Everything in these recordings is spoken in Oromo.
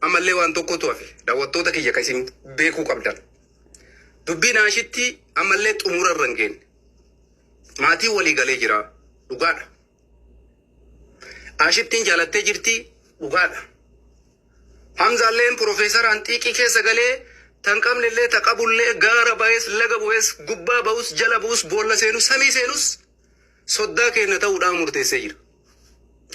Ammallee waan tokkotu hafe daawwattoota kiyya kan isin beekuu qabdan. Dubbii naashittii ammallee xumura irra hin geenne. Maatiin walii galee jira. Dhugaadha. Aashittiin jaalattee jirti. Dhugaadha. Hamzaalleen piroofeesaraan xiiqii keessa galee tan qabnellee ta qabullee gaara bahees laga bu'ees gubbaa ba'us jala bu'us boolla seenus samii seenus soddaa keenya ta'uu dhaan murteessee jira.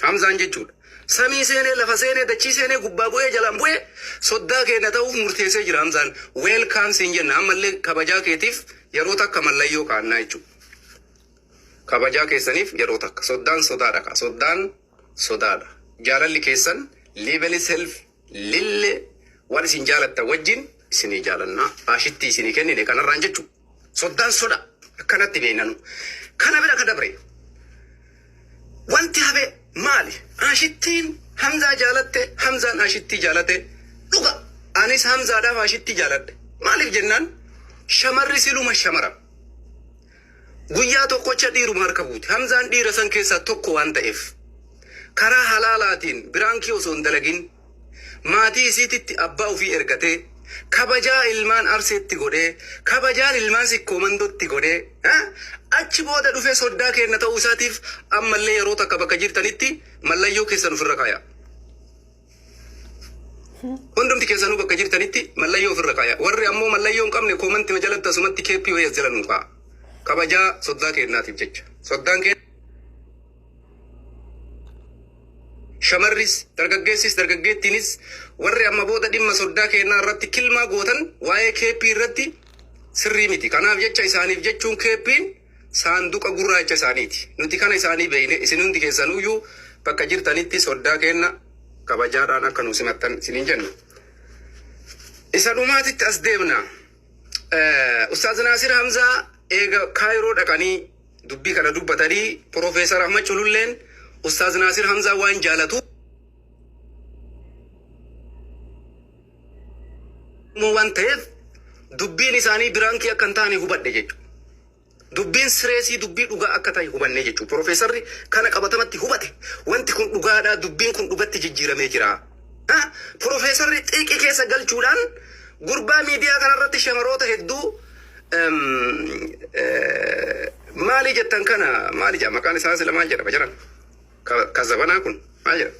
Hamzaan jechuudha. Samii seenee, lafa seenee, dachii seenee, gubbaa bu'ee, jalaan bu'ee, soddaa keenya ta'uuf murteessee jira Hamzaan. Weelkaam siin jenna. Ammallee kabajaa keetiif yeroo takka mallayyoo kaa'annaa jechuudha. Kabajaa keessaniif yeroo takka. Soddaan sodaadha kaa. Soddaan sodaadha. Jaalalli keessan level self Lille waan isin jaalattan wajjin isinii jaalanna. Raashittii isinii kennine kanarraan jechu. Soddaan soda akkanatti beeknanu. Kana bira ka dabre wanti hafe maali? Raashittiin Hamzaa jaalatte, Hamzaan Raashittii jaalate. Dhuga anis Hamzaadhaaf Raashittii jaaladhe. Maaliif jennaan shamarri siluma shamara. Guyyaa tokkocha dhiiruma harka buute. Hamzaan dhiira san keessaa tokko waan ta'eef karaa halaalaatiin biraankii osoo hin dalagin maatii isiititti abbaa ofii ergatee kabajaa ilmaan Arseetti godhee kabajaan ilmaan Sikkoo Mandootti godhee achi booda dhufee soddaa keenna ta'uu isaatiif ammallee yeroo takka bakka jirtanitti mallayyoo keessan ofirra kaayaa. Hundumti keessanuu bakka jirtanitti mallayyoo ofirra kaaya. Warri ammoo mallayyoo hin qabne koomantima jalatti asumatti KPOS jala nuu kaa'a. Kabajaa soddaa keennaatiif jecha. Soddaan kee shamarris dargaggeessis dargaggeettiinis warri amma booda dhimma soddaa keennaa irratti kilmaa gootan waa'ee KP irratti sirrii miti. Kanaaf jecha isaaniif jechuun KP'n saanduqa gurraacha isaaniiti. Nuti kana isaanii beeyne isin hundi keessanuyyuu bakka jirtanitti soddaa keenna kabajaadhaan akka nu simattan isiniin jenna. Isa dhumaatitti as deemna. Eh, Ustaaz Naasir Hamzaa eega Kaayiroo dhaqanii dubbii kana dubbatanii Profeesar Ahmad Cululleen Ustaaz Naasir Hamzaa waan jaalatu Oromoo waan ta'eef dubbiin isaanii biraankii akka hin taane hubadhe jechuudha. Dubbiin sireesii dubbii dhugaa akka ta'e hubanne jechuudha. Piroofeesarri kana qabatamatti hubate. Wanti kun dhugaadhaa, dubbiin kun dhugatti jijjiiramee jira. Ha? Piroofeesarri xiiqii keessa galchuudhaan gurbaa miidiyaa kanarratti shamaroota hedduu em, eh, maalii jettan kana maali jedha maqaan isaa sila maal jedhama jiran Ka, ka zabanaa kun maal jedha?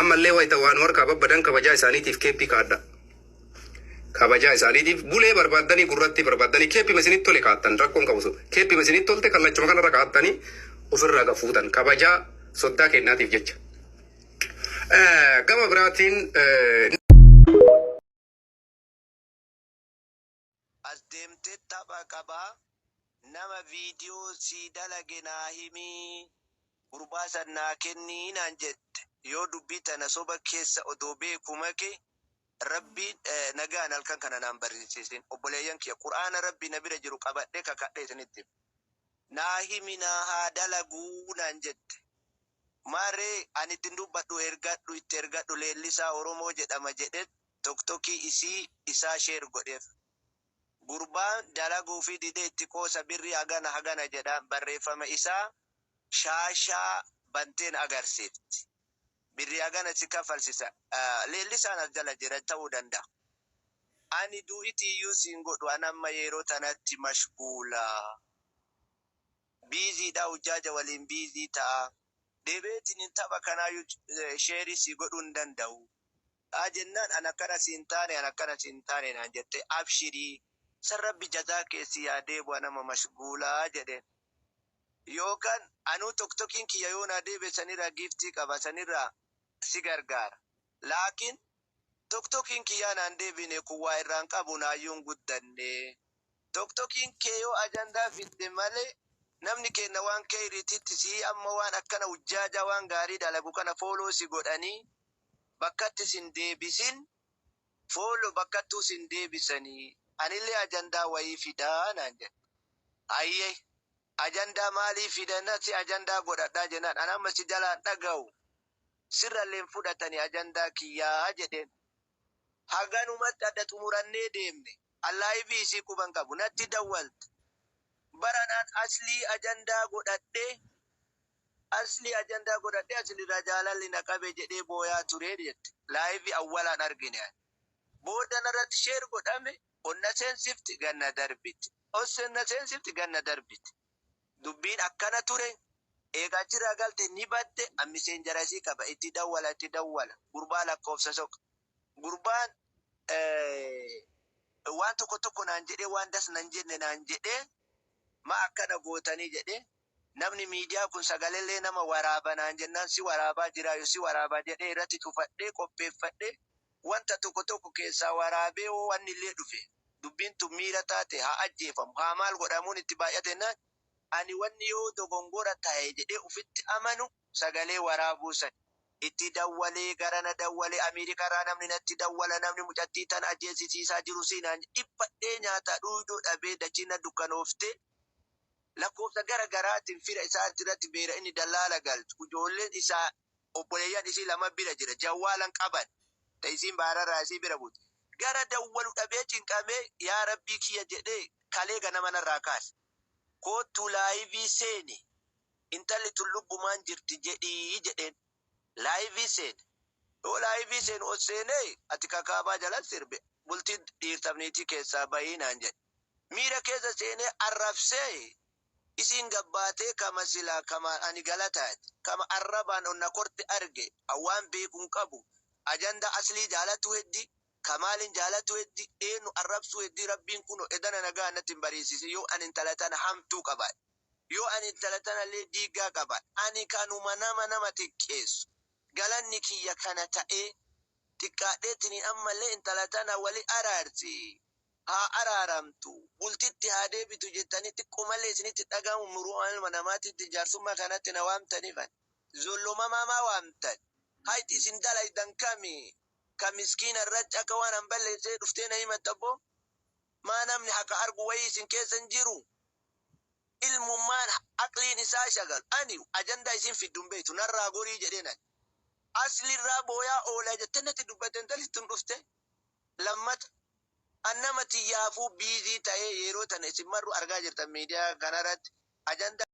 Ammallee wayta waa nu harkaa babbadan kabajaa isaaniitiif keeppii kaadhaa. Kabajaa isaaniitiif bulee barbaaddanii gurrattii barbaaddanii keeppima isinitti tole kaattan rakkoon qabu sun. Keeppima isinitti tolte kallachuma kanarra kaattanii ofirraa gad fuutan kabajaa soddaa keennaatiif jecha. Eh, Gama biraatiin eh, As demte tapha qaba nama video sii dalage naa himii gurbaa san naa kennii naan jette yoo dubbii tana soba kessa odoo beeku make rabbiin nagaan halkan kana naan barinsiisin obboleeyyan kiyya qur'aana rabbii na bira jiru qabadhe kakadhe isinitti hima naa himi naa haa dalagu naan jette maaree an ittin dubbadhu ergadhu itti ergadhu leellisaa oromoo jedhama jedhet toktokii isii isaa share godhef gurbaan dalaguufi dide itti qoosa birrii hagana hagana jedha barreeffama isaa shaashaa banteen agarsiifti birrii hagana si kaffalsisa leellisaan as jala jira ta'uu danda'a ani du'iti iyyuu siin godhu an amma yeeroo tanatti mashguula busy dha hujjaaja waliin busy ta'a debeetinin tapha kanaayyuu share sii godhuu hin danda'u. dhaa jennaan an akkana siin taane an akkana siin taane naan jettee abshirii san rabbi jazaa kee sii haa deebu an amma mashguulaa jedheen yookaan anuu toktokiin kiyya yoo naa deebi'e saniraa giiftii qaba saniraa si gargaara laakiin toktokiin kiyyaa naan deebiine kun waa irraan qabu naayyuu hin guddannee. Toktokiin kee yoo ajandaa fidde malee namni keenna waan keyriititti sihii amma waan akkana hujjaajaa waan gaarii dalagu kana follow si godhanii bakkatti sin deebisin follow bakkattuu sin deebisanii anillee ajandaa wayii fidaa naan jedhe hayyee ajandaa maalii fidana si ajandaa godhadhaa jenaan an amma si jalaa hin dhagahu sirrallee hin fudhatanii ajandaa kiyyaa jedheen haganumatti adda xumurannee deemne. Allahi fi isii quba hin qabu natti dawwalt baranaan aslii ajandaa godhadhe aslii ajandaa godhadhe asliraa jaalalli na qabe jedhee booyaa ture jette live awwalaan argine ani booda narratti share godhame onna seensifti ganna darbiti onna seensifti ganna darbiti dubbiin akkana ture eega achirraa galte ni badde an miseenjara isii qaba itti dawwala itti dawwala gurbaa lakkoofsa soq Gurbaan waan tokko tokko naan jedhee waan das nan jenne naan jedhee ma akkana gootanii jedhee namni miidiyaa kun sagalee nama waraaba naan jennaan si waraabaa jiraa yoo si waraabaa jedhee irratti cufadhee qopheeffadhee wanta tokko tokko keessaa waraabee hoo wanni illee dhufe dubbiin tun miira taate haa ajjeefamu haa maal godhamuun itti baay'atennaan ani wanni yoo dogongora ta'e jedhee ufitti amanu sagalee waraabuu san. Itti dawwale, gara na dawwale, Ameerikaa irraa namni natti dawwala, namni mucattii tana ajjeesisiisaa jiru si naan jedhe. Dhiphadhee nyaataa dhuuyduu dhabee dachiin na dukkanooftee, lakkoofsa gara garaatiin fira isaa irratti beera inni dallaala galchu. Ijoolleen isaa, obboleeyyan isii laman bira jira. Jawwaalan qaban, ta isiin baararraa isii bira buute. Gara dawwalu dhabee cinqamee, yaa Rabbii kiyya jedhee kalee ganama narraa kaase. Koottuu laayivii seeni. Intalli tun lubbumaan jirti jedhi jedheen. Laayivii seene. Yoo laayivii seenu ol seenee ati kakaabaa jalan sirbe bultii dhiirtaf niitii keessaa bahi naan jedhe. Miira keessa seenee arrabsee isiin gabbaatee kama silaa kama ani galataati kama arrabaan ol na korte arge an waan beeku hin qabu ajandaa aslii jaalatuu heddi kamaalin jaalatuu heddi eennu arrabsuu heddi rabbiin kuno edana nagaan natti hin bariisisin yoo an intala tana hamtuu qabaadhe Yoo ani intala tanallee diiggaa qaba. Ani kanuma nama nama xiqqeessu. Galanni kiyya kana ta'ee. Xiqqaadheetiniin ammallee intala tana wali araarsi. Haa araaramtu. Bultitti haa deebitu jettanii xiqqoomallee isinitti dhaga'amu muru'uun ilma namaatitti jaarsummaa kanatti na waamtaniif ani. Zollomamaa maa waamtan? Hayti isin dalaydan kami? Ka miskiina irratti akka waan an balleessee dhuftee na himatta boo? Maa namni haka argu wayii isin keessa hin jiru? Ilmummaan aqliin isaa shagalu. Ani ajandaa isiin fiddu hin beektu narraa gorii jedheen ani. Asli irraa booyaa oola jettee natti dubbatte intalli tun dhuftee. Lammata an nama tiyyaafuu busy ta'ee yeroo tana isin marruu argaa jirtan miidiyaa kanaratti ajandaa.